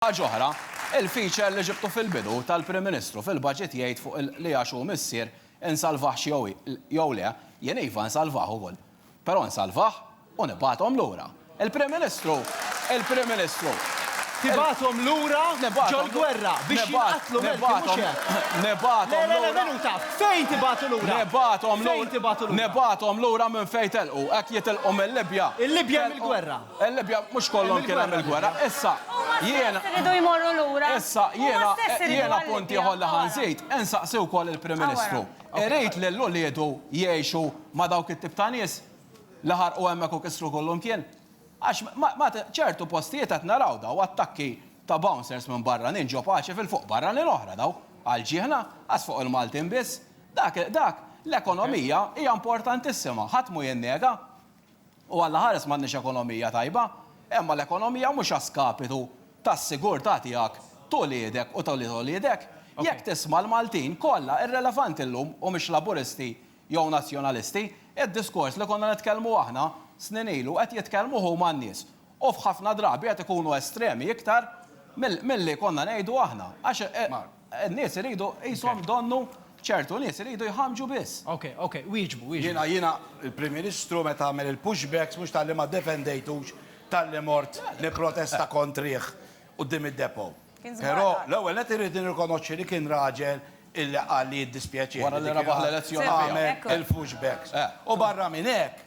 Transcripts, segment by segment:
Ħaġa oħra, il-feature li ġibtu fil-bidu tal-Prim Ministru fil-Budget jgħid fuq il li għax hu missier insalvahx jew le, jien iva nsalvah ukoll. Però nsalvah u nibgħathom lura. Il-Prim Ministru, il-Prim Ministru. Tibgħathom lura ġol-gwerra biex jinqatlu menti mhux hekk? Nibgħathom lura. Le, le, le, minuta, fejn tibgħatu lura? Nibgħathom lura. Fejn tibgħatu lura? Nibgħathom lura minn fejn telqu. Hekk jitilqu mil-Libja. Il-Libja mill-gwerra. Il-Libja mhux kollhom kien hemm il-gwerra. Issa, jiena. Iridu jmorru lura. Issa, jiena, jiena punt ieħor li ħa nżid, insaqsi wkoll il-Prim Ministru, irid lil uliedu jgħixu ma' dawk it-tip ta' nies li ħarqu hemmhekk u kissru kull imkien? Għax ma, ċertu postijiet qed naraw daw attakki ta' bouncers minn barranin ġo paċi fil-fuq barranin oħra daw, għall-ġiehna, għax fuq il-Maltin biss. Dak, dak, l-ekonomija hija importantissima, ħadd mhu jinnega. U allaħares m'għandniex ekonomija tajba, imma l-ekonomija mhux a skapitu tas-sigurtà tiegħek, t'uliedek u t'ulied uliedek. Jekk tisma' l-Maltin kollha, irrelevanti llum humiex Laburisti jew Nazzjonalisti, id-diskors li konna nitkellmu aħna snin ilu qed jitkellmu huma n-nies. U f'ħafna drabi qed ikunu estremi iktar milli konna ngħidu aħna. Għax. N-nies iridu qishom donnu ċertu nies iridu jħammġu biss. Ok, ok, wieġbu, wieġbu. Jiena, jiena, il-Prim Ministru meta għamel il-pushbacks mhux talli ma ddefendejtux talli mort nipprotesta kontrih quddiem id-depot. Però l-ewwel nett irrid nirrikonoxxi li kien raġel illi qal li jiddispjaċih li kien għamel il-pushbacks. U barra minn hekk,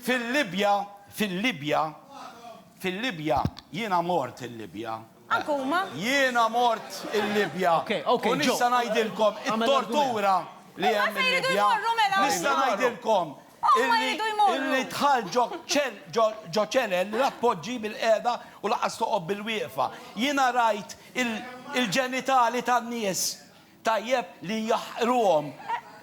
Fil-Libja, fil-Libja, fil-Libja, jiena mort il-Libja. Anke huma? Jiena mort il-Libja. U nista' ngħidilkom it-tortura li hemm il-Libja. Nista' ngħidilkom illi dħalt ġo ċelel li la tpoġġi bil-qiegħda u lanqas toqgħod bil-wieqfa. Jiena rajt il-ġenitali tan-nies. Tajjeb li jaħqruhom.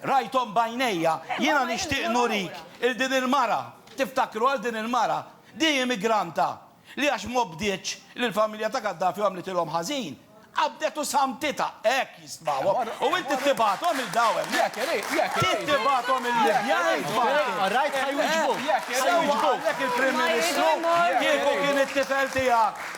Rajthom b'għajnejja. Jiena nixtieq nurik 'il din il-mara. Tiftakru għal din il-mara? Di immigranta li għax m'obdietx lill-familja ta' Gaddafi u għamlitilhom ħażin, qabdet u samtitha. Hekk jistmawhom. U int trid tibgħathom 'il daw hemmhekk. Trid tibgħathom il-Libja int Martin. Sewwa qalek il-Prim Ministru kieku kien it-tifel tiegħek.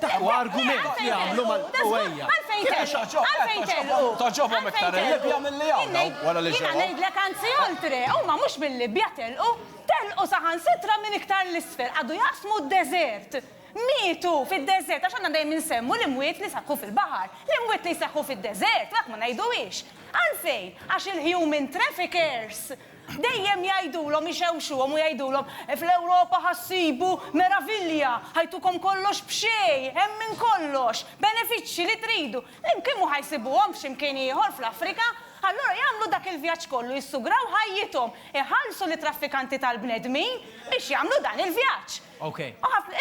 Huwa argument li għamlu mal Ewwejja. Għalfejn telqu? Għalfejn telqu? Toġobhom iktar il-Libja milli hawn dawn wara li ġewwa. Jiena ngħidlek anzi oltre, huma mhux mil-Libja telqu, telqu saħansitra minn iktar 'l isfel, qagħdu jaqsmu d-deżert. Mietu fid-deżert għax aħna dejjem insemmu l-imwiet li seħħu fil-baħar. L-imwiet li jseħħu fid-deżert, u hekk ma ngħiduhiex. Għalfejn? Għax il-human traffickers Dejjem jgħidulhom, ixewxuhom u jgħidulhom, Fl-Ewropa ħa ssibu meravilja, ħajtukom kollox b'xejn, hemm minn kollox, benefiċċji li tridu. L-imkien mhu ħa jsibuhom f'xi mkien ieħor fl-Afrika. Allura jagħmlu dak il-vjaġġ kollu, jissugraw ħajjithom, iħallsu lit-traffikanti tal-bnedmin biex jagħmlu dan il-vjaġġ.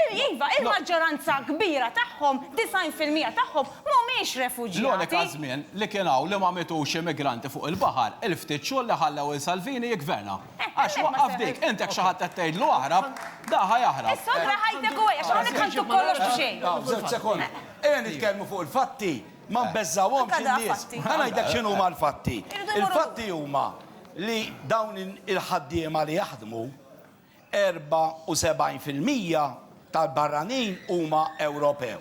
Iva, il-maġġoranza kbira tagħhom, 90 fil-mija tagħhom, m'humiex refuġjati. L-unika żmien li kien hawn li ma mietux immigranti fuq il-baħar, il-ftit xhur li ħallew lil Salvini jiggverna. Għax waqqaf dik. Int jekk xi ħadd qed tgħidlu aħrab, da ħa jaħrab. Is-sodra ħajtek u għaj, għax hawnhekk ħaltu kollox b'xejn. Żewġ sekondi. Ejja nitkellmu fuq il-fatti, ma nbeżżgħuhomx in-nies. Ħa ngħidlek x'inhuma l-fatti. Il-fatti huma li dawn il-ħaddiema li jaħdmu, 74 fil-mija tal-barranin huma Ewropew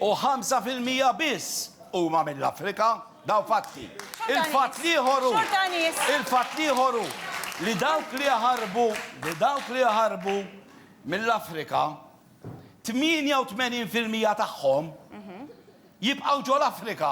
u 5 fil-mija biss huma mill-Afrika. Dawn fatti. Il-fatt l-ieħor hu, il-fatt l-ieħor hu li dawk li jaħarbu, li dawk li jaħarbu mill-Afrika, 88 fil-mija tagħhom jibqgħu ġol-Afrika.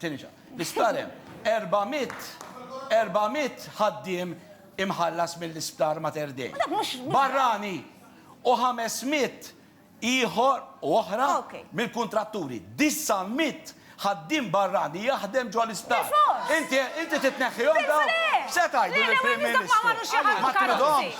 Tinġa. L-isptar hemm 400 400 ħaddiem imħallas mill-isptar Mater Dei. Dak mhux- mhux- Barrani u 500 ieħor u oħra Okej. mill-kuntratturi. 900 ħaddiem barrani jaħdem ġo l-isptar. Bil-fors! Inti inti titneħħihom dawn? Bil-fors! Se tgħidu Le, le, lill-Prim għaliex dak ma Ministru. għamlu xi ħadd, Ma Karozzi. tridhomx?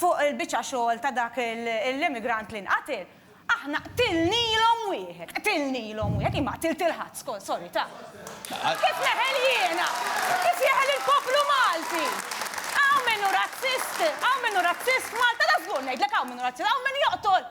fuq il-biċċa xogħol ta' dak l-immigrant li nqatel, aħna qtilnilhom wieħed, qtilnilhom wieħed, jien ma qtilt lil ħadd, sorry, ta'. Kif neħel jiena? Kif jeħel il-poplu Malti? Hawn min hu razzist, hawn min hu razzist f'Malta, ta' żgur ngħidlek hawn min hu razzist, hawn min joqtol!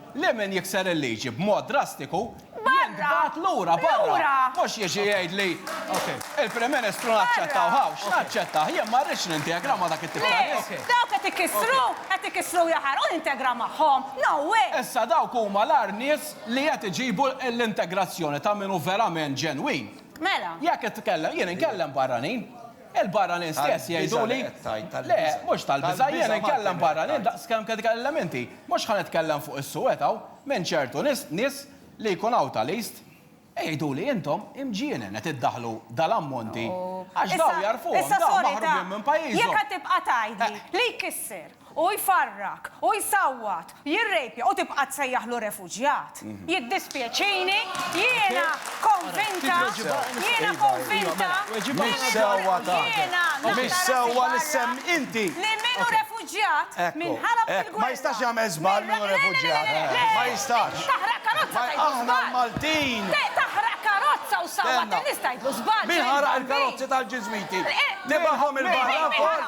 Li min jikser il-liġi b'mod drastiku jintbagħat lura barra. Mhux jiġi jgħidli, Il-Prim Ministru naċċettawha, x'naċċettah, jien ma rridx nintegra ma' dak it-tip ta' nies. Le, dawk qed ikissru, qed ikissru u jaħarqu nintegra magħhom, no way! Issa dawk huma l-agħar nies li qed iġibu l-integrazzjoni ta' min hu verament ġenwin. Mela. Jekk qed titkellem, jien inkellem barranin. Il-barranin stess jgħidu li, Le, mhux tal-biża', jiena nkellem barranin daqs kemm qed ikelli l-elementi. Mhux ħa nitkellem fuq is-suwed hawn, minn ċertu nies, nies li jkun hawn ta' list. Igħiduli, Intom imġienen qed iddaħħlu dal-ammonti għax dawn jagħrfuhom, dawn maħrubin minn pajjiżhom. Issa sorry, ta, jekk għad tibqa' tgħidli, li jkisser? Hu jfarrak, hu jsawwat, jirrejpja u tibqa' tsejjaħlu refuġjat? Jiddispjaċini, jiena konvinta, jiena konvinta li minn hawn il-lum li min hu refuġjat minn Ħalab fil-gwerra, minn taħraq karozza tgħidlu żball! Min ħaraq il-karozzi tal-Ġiżwiti? Tibaghom il-barra wkoll?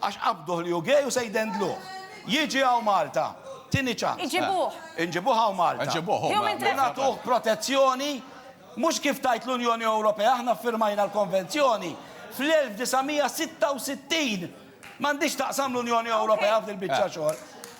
Għax qabduh li hu gay u se jdendluh. Jiġi hawn Malta. Tieni ċans. Iġibuh. Inġibuh hawn Malta. Iġibuh hu Malta. U nagħtuh protezzjoni mhux kif tgħid l-Unjoni Ewropea, aħna ffirmajna l-konvenzjoni fl-1966. M'għandhiex taqsam l-Unjoni Ewropea f'dil-biċċa xogħol.